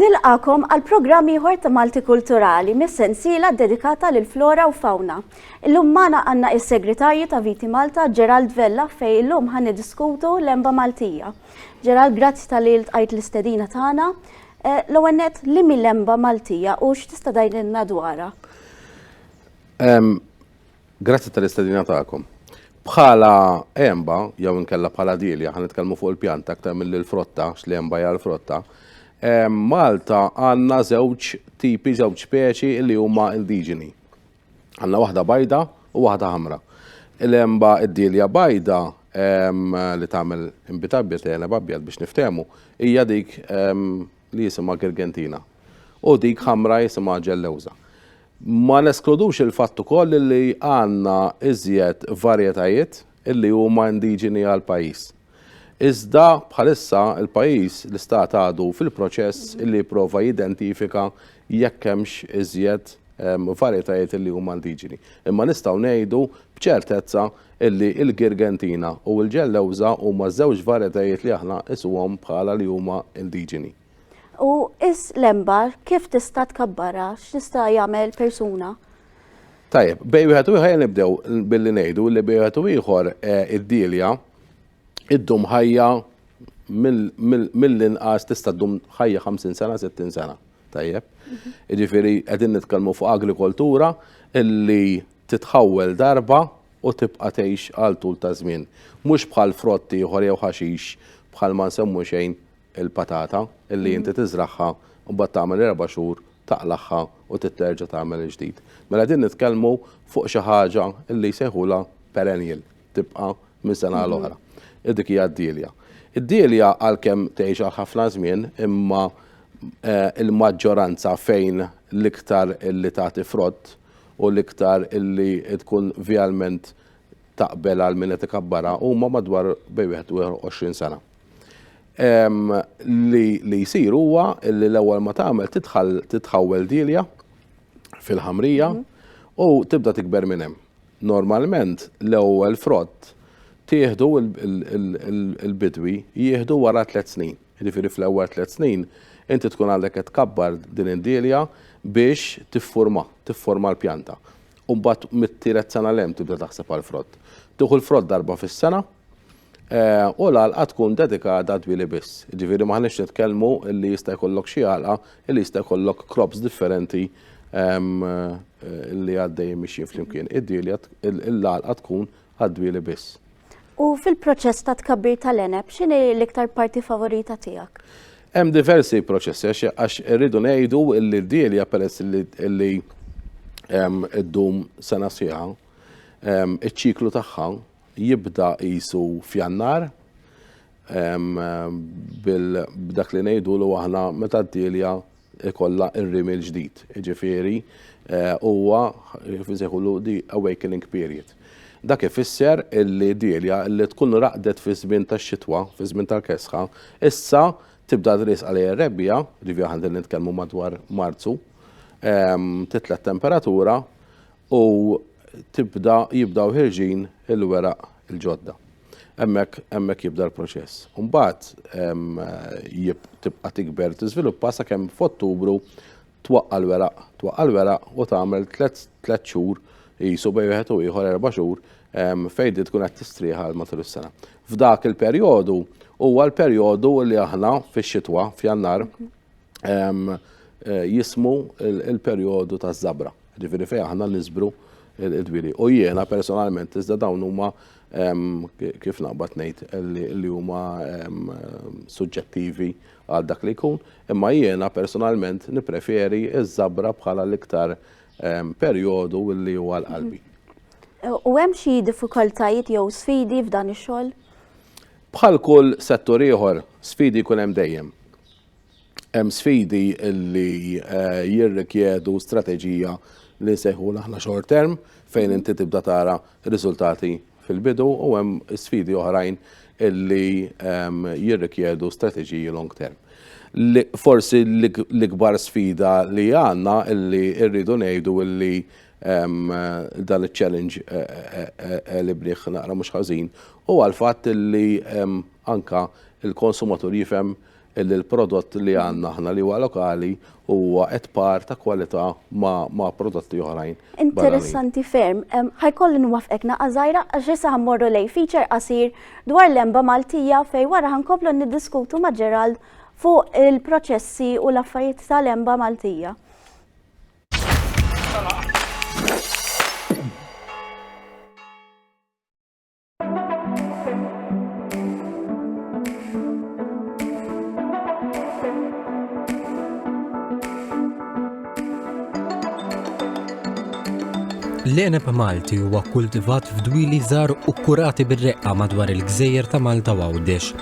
Nilqagħkom għal programm ieħor ta' Malti Kulturali mis-sensiela ddedikata lil flora u fawna. Illum magħna għandna is-Segretarju ta' Viti Malta Gerald Vella fejn illum ħan niddiskutu l-emba Maltija. Gerald, grazzi tal-li ltqajt l-istedina tagħna. Eh, l-ewwel nett li mill-emba Maltija u x'tista' tgħidilna dwarha? Grazzi tal-istedina tagħkom. Bħala għenba, jew inkella bħala dilja, ħan nitkellmu fuq il-pjanta aktar milli l-frotta, għax l-għenba hija l-frotta. Ehm, Malta għandna żewġ tipi, żewġ speċi li huma indiġeni. Għandna waħda bajda u waħda ħamra. Il-għenba id-dilja bajda ehm, li tagħmel inbitabjet, għeneb abjad biex niftehmu, hija dik ehm, li jisimha Girgentina u dik ħamra jisimha Ġellewża. Ma neskludux il-fatt ukoll li għandna iżjed varjetajiet illi huma indiġeni għall-pajjiż. Iżda bħalissa l-pajjiż, l-Istat għadu fil-proċess illi jipprova jidentifika jekk hemmx iżjed ehm, varjetajiet illi huma indiġeni. Imma nistgħu ngħidu b'ċertezza illi l-Girgentina u l-Ġellewża huma żewġ varjetajiet li aħna nqisuhom bħala li huma indiġeni. U is l-enba kif tista' tkabbarha? X'tista' jagħmel persuna? Tajjeb, bej wieħed u ieħor nibdew billi ngħidu li bej wieħed u ieħor eh, id-dielja iddum ħajja mill-inqas tista' ddum ħajja 50 sena, 60 sena. Tajjeb. Jiġifieri qegħdin nitkellmu fuq agrikoltura illi titħawwel darba u tibqa' tgħix għal tul ta' żmien, mhux bħal frott ieħor jew ħaxix bħal ma nsemmu xejn il-patata illi inti tiżragħha u mbagħad tagħmel erba' xhur taqlagħha u trid terġa' tagħmel il-ġdid. Mela din nitkellmu fuq xi ħaġa illi jsejħulha perennial, tibqa' minn sena għal oħra. U dik hija d-dielja. Id-dielja għalkemm tgħix għal ħafna żmien imma il-maġġoranza fejn l-iktar illi tagħti frott u l-iktar illi tkun vialment taqbel għal min qed ikabbarha huma madwar bej wieħed u 20 sena. Ehm, li li jsir huwa li l-ewwel ma tagħmel tidħal titħawwel dilja fil-ħamrija mhm. u tibda tikber minn hemm. Normalment l-ewwel frott tieħdu il-bidwi jieħdu wara tliet snin. Jiġifieri fl-ewwel tliet snin inti tkun għadek qed tkabbar din id-dielja biex tifforma, tifforma l-pjanta. U mbagħad mit-tielet sena 'l hemm tibda taħseb għall-frott. Tieħu l-frott darba fis-sena u l-għalqa tkun dedikata għad-dwieli biss. Jiġifieri m'aħniex nitkellmu li jista' jkollok xi għalqa li jista' jkollok crops differenti li għaddejjin mixjin flimkien. Id-dielja, l-għalqa tkun għad-dwieli biss. U fil-proċess ta' tkabbir tal-għeneb, x'inhi l-iktar parti favorita tiegħek? Hemm diversi proċessi għax irridu ngħidu li d-dielja peress li ddum sena sieħa, iċ-ċiklu tagħha jibda qisu f'Jannar b'dak li ngħidu li aħna meta d-dielja ikollha r-rimi l-ġdid. Jiġifieri huwa kif insejħulu the awakening period. Dak ifisser illi dielja li tkun raqdet fi żmien tax-xitwa, fi żmien tal-kesħa, issa tibda tris għalija r-rebbiegħa, ġifieri aħna qegħdin nitkellmu madwar Marzu, titla' t-temperatura u tibda jibdaw ħirġin il-weraq il-ġodda. Hemmhekk hemmhekk jibda l-proċess. Mbagħad tibqa' tikber tiżviluppa sakemm f'Ottubru twaqqa' l-weraq, twaqqa' l-weraq u tagħmel tliet xhur qisu bejn wieħed u ieħor erba' xhur fejn din tkun qed tistrieħ għal matul is-sena. F'dak il-perjodu huwa l-perjodu li aħna fix-xitwa, f'Jannar, jismu il-perjodu ta' żabra. Ġifieri fejn aħna nisbru il-dwieli. U jiena personalment iżda dawn huma kif naqbad ngħid li huma suġġettivi għal dak li jkun, imma jiena personalment nippreferi ż-żabra bħala l-iktar perjodu li huwa għal qalbi. U hemm xi diffikultajiet jew sfidi f'dan ix-xogħol? Bħal kull settur ieħor, sfidi jkun hemm dejjem. hemm sfidi li jirrikjedu strateġija li nsejħu aħna short term fejn inti tibda tara riżultati fil-bidu u hemm sfidi oħrajn li ehm, jirrikjedu strateġiji long term. Forsi l-ikbar sfida li għanna li rridu ngħidu li ehm, dan il-challenge eh, eh, eh, li bniħ naqra mhux ħażin u għal-fatt li ehm, anka il-konsumatur jifhem illi l-prodott li għandna aħna li huwa lokali huwa qed par ta' kwalità ma' prodotti oħrajn. Interessanti ferm, ħajkolli nwafqek naqa' żgħira għax issa ħammorru lej feature qasir dwar l-emba Maltija fej wara ħankomplu niddiskutu ma' Gerald fuq il-proċessi u l-affarijiet tal-emba Maltija. L-eneb Malti huwa kultivat f'dwili żgħar u kurati bir-reqqa madwar il-gżejjer ta' Malta u Għawdex.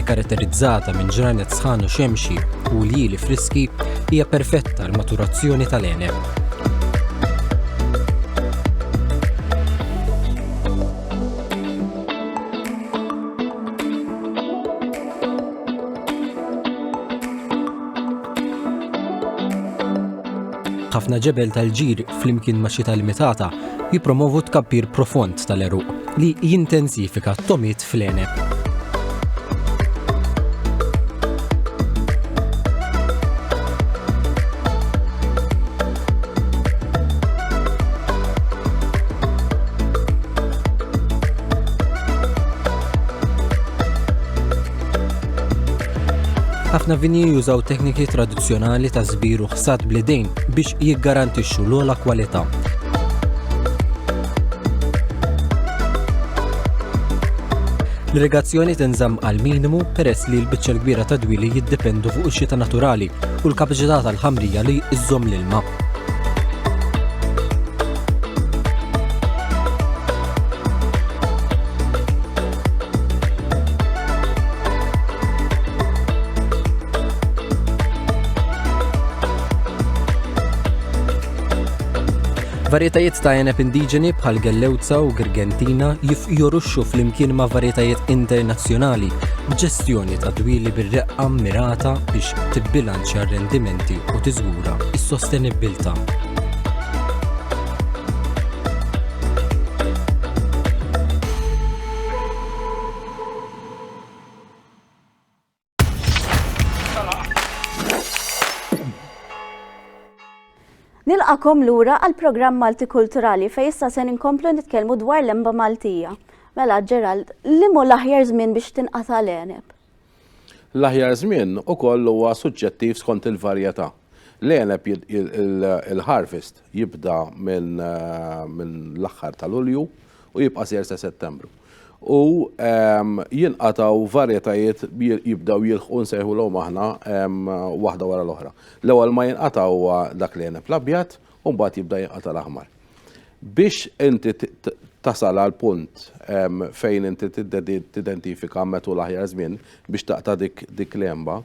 ikkaratterizzata minn ġranet sħan u xemxi u ljieli friski, hija perfetta għal maturazzjoni tal-għeneb. ħafna ġebel tal-ġir flimkien ma' xita limitata jipromovu tkabbir profond tal-eruq li jintensifika t-tomit fl-għeneb. Ħafna vini jużaw tekniki tradizzjonali ta' żbir u ħsad bl-idejn biex jiggarantixxu l-ogħla kwalità. L-irrigazzjoni tinżamm għal minimu peress li l-biċċa l-kbira ta' dwieli jiddependu fuq ix-xita naturali u l-kapaċità tal-ħamrija li iżżomm l-ilma. Varjetajiet ta' għeneb indiġeni bħal Gellewza u Girgentina jifjoruxxu flimkien ma' varjetajiet internazzjonali b'ġestjoni ta' dwieli bir-reqqa mmirata biex tibbilanċja r-rendimenti u tiżgura s-sostenibbiltà. Nilqakom lura għal programm Malti Kulturali fej issa se inkomplu nitkellmu dwar l-emba Maltija. Mela Gerald, li mu l-aħjar żmien biex tinqata' l-eneb? L-aħjar żmien ukoll huwa suġġettiv skont il-varjetà. L-eneb il-harvest jibda minn eh, l-aħħar tal-Ulju u jibqa' ser sa Settembru. u jinqatgħu varjetajiet jibdew jilħqu nsejħulhom aħna waħda wara l-oħra. L-ewwel ma jinqata' huwa dak li jeneb l-abjad u mbagħad jibda jinqata' l-aħmar. Biex inti tasal għal punt fejn inti tidentifika metu l-aħjar żmien biex taqta' dik l-għenba,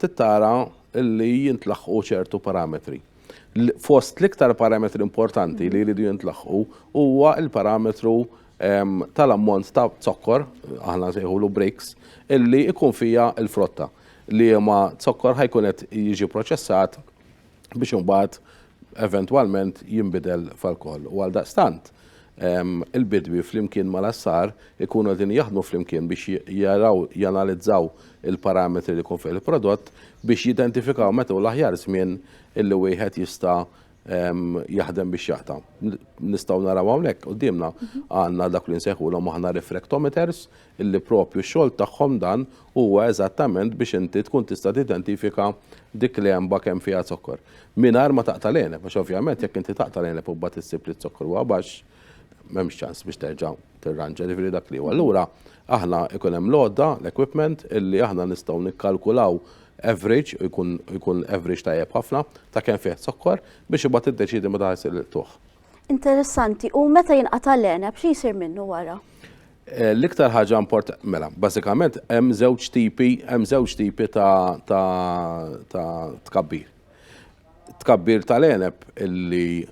tittara li jintlaħqu ċertu parametri. Fost l-iktar parametri importanti li jridu jintlaħqu huwa l-parametru ehm, tal-ammont ta' zokkor, aħna sejħulu breaks, illi ikun fija l-frotta li ma zokkor ħajkun qed jiġi proċessat biex imbagħad eventwalment jinbidel f'alkohol. U għal daqstant, Il-bidwi flimkien mal-għassar ikunu qegħdin jaħdmu flimkien biex jaraw, janalizzaw il-parametri li jkun fih il-prodott biex jidentifikaw meta hu l-aħjar żmien illi wieħed jista' jaħdem biex jaqta'. Nistgħu naraw hawnhekk quddiemna għandna dak li nsejħulhom aħna refractometers illi proprju x-xogħol tagħhom dan huwa eżattament biex inti tkun tista' tidentifika dik l-għenba kemm fiha zokkor. Mingħajr ma taqta' l-għeneb, għax ovvjament jekk inti taqta' l-għeneb u mbagħad issib li z-zokkor huwa baxx, m'hemmx ċans biex terġa' tirranġa, jiġifieri dak li hu. Allura aħna jkun hemm l-għodda, l-equipment, illi aħna nistgħu nikkalkulaw average, u jkun average tajjeb ħafna, ta' kemm fih zokkor, biex imbagħad tiddeċiedi meta ħa ssir il-qtugħ. Interessanti, u meta jinqata' l-għeneb, xi jsir minnu wara? Eh, l-iktar ħaġa import, mela, basikament, hemm żewġ tipi, hemm żewġ tipi ta' tkabbir. Tkabbir tal-eneb illi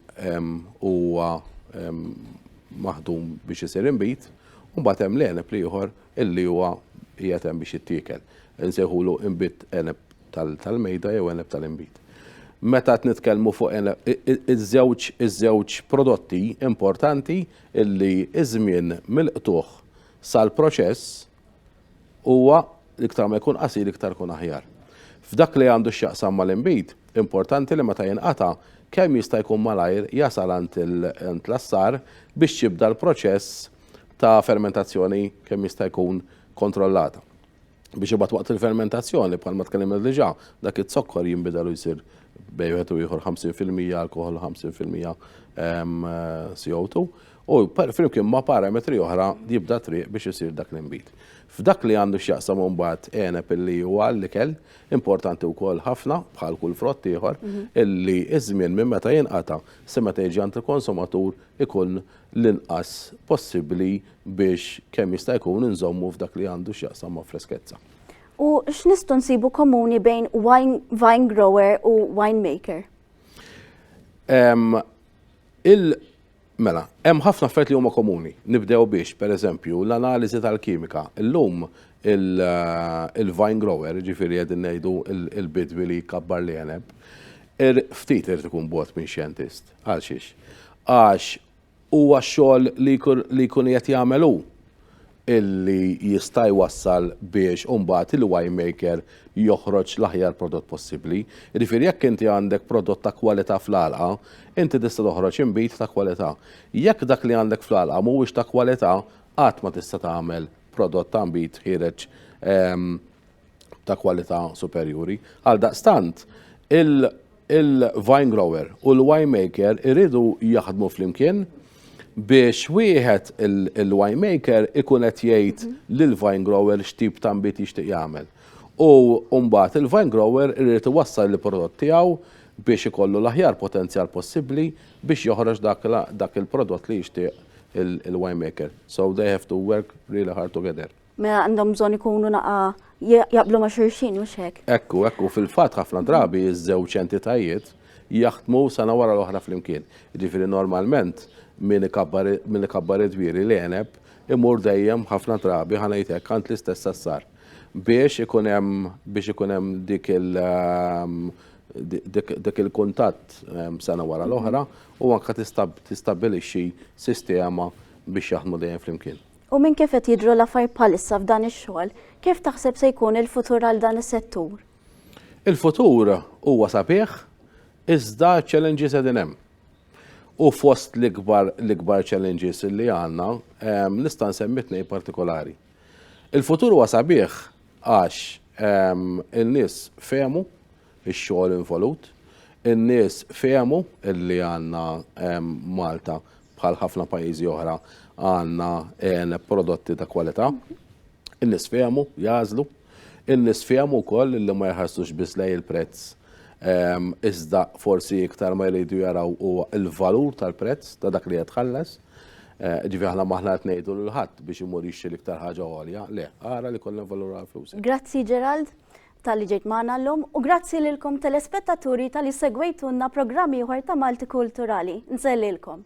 huwa maħdum biex isir imbit, u mbagħad hemm l-eneb li ieħor illi huwa qiegħed hemm biex jittiekel. Insejħulu imbit eneb tal-mejda jew għeneb tal-inbid. Meta qed nitkellmu fuq iż-żewġ iż-żewġ prodotti importanti illi iż-żmien mill-qtugħ sal-proċess huwa l-iktar ma jkun qasir iktar ikun aħjar. F'dak li għandu x'jaqsam mal-inbid, importanti li meta jinqata' kemm jista' jkun malajr jasal għand l-assar biex jibda l-proċess ta' fermentazzjoni kemm jista' jkun kontrollata. biex imbagħad waqt il-fermentazzjoni bħalma tkellimna diġà dak iz-zokkor jinbidel u jsir bej wieħed u ieħor 50% alkoħol u 50% ehm, CO2 u flimkien ma' parametri oħra jibda triq biex isir dak l-inbid. F'dak li għandu x'jaqsam mbagħad għeneb illi huwa l-ikel importanti wkoll ħafna bħal kull frott ieħor mhm. illi iż-żmien minn meta jinqata' se meta jiġi għand il-konsumatur ikun l-inqas possibbli biex kemm jista' jkun inżommu f'dak li għandu x'jaqsam ma' freskezza. U x'nistgħu nsibu komuni bejn wine, vine grower u wine maker? Um, il Mela, hemm ħafna affarijiet li huma komuni. Nibdew biex, per eżempju, l-analiżi tal-kimika. Illum eh, il-vine grower, ġifiri qegħdin ngħidu il-bidwi li jkabbar li jeneb, er, ftit irid ikun bot minn xjentist. Għal xiex? Għax Huwa x-xogħol li jkun qiegħed jagħmel hu li jista' jwassal biex imbagħad il-winemaker joħroġ l-aħjar prodott possibbli. Jiġifieri jekk inti għandek prodott ta' kwalità fl-għalqa, inti tista' toħroġ inbid ta' kwalità. Jekk dak li għandek fl-għalqa mhuwiex ta' kwalità, qatt ma tista' tagħmel prodott ta' inbid ħiereġ ta' kwalità superjuri. Għaldaqstant, il-vine grower u l-winemaker iridu jaħdmu flimkien biex wieħed il-winemaker ikun qed jgħid lill-vine grower x'tip ta' nbid jixtieq jagħmel. U mbagħad il-vine grower irid iwassal il-prodott tiegħu biex ikollu l-aħjar potenzjal possibbli biex joħroġ dak il-prodott li jixtieq il-winemaker. So they have to work really hard together. Mela għandhom bżonn ikunu naqa jaqblu ma' xulxin, mhux hekk? Ekku, ekku, fil-fatt ħafna drabi ż-żewġ entitajiet jaħdmu sena wara l-oħra flimkien. Ġifieri normalment min ikabbar id-dwieri l-għeneb imur dejjem ħafna drabi ħa ngħid hekk għand l-istess sassar biex ikun hemm biex ikun hemm dik il dik il-kuntatt sena wara l-oħra u anke tistabbilixxi sistema biex jaħdmu dejjem flimkien. U minn kif qed jidhru l-affarijiet bħalissa f'dan ix-xogħol, kif taħseb se jkun il-futur għal dan is-settur? Il-futur huwa sabiħ iżda ċ-challenges qegħdin hemm. U fost l-ikbar l-ikbar challenges li għandna nista' nsemmi tnejn partikolari. Il-futur huwa sabiħ għax in-nies fehmu ix-xogħol involut. In-nies fehmu li għandna Malta bħal ħafna pajjiżi oħra għandna eh, prodotti ta' kwalità. In-nies fehmu, jażlu. In-nies fehmu wkoll li ma jħarsux biss lej il-prezz ehm, iżda forsi iktar ma jridu jaraw huwa il-valur tal-prezz ta' dak li qed tħallas. Eh, ġifi aħna maħna qed ngħidu l-ħadd biex imur jixtri l-iktar ħaġa għolja, le, ara li kollha valur għal flus. Grazzi Gerald. Talli ġejt magħna llum u grazzi lilkom telespettaturi talli segwejtunna programm ieħor ta' Malti Kulturali. Nsellilkom.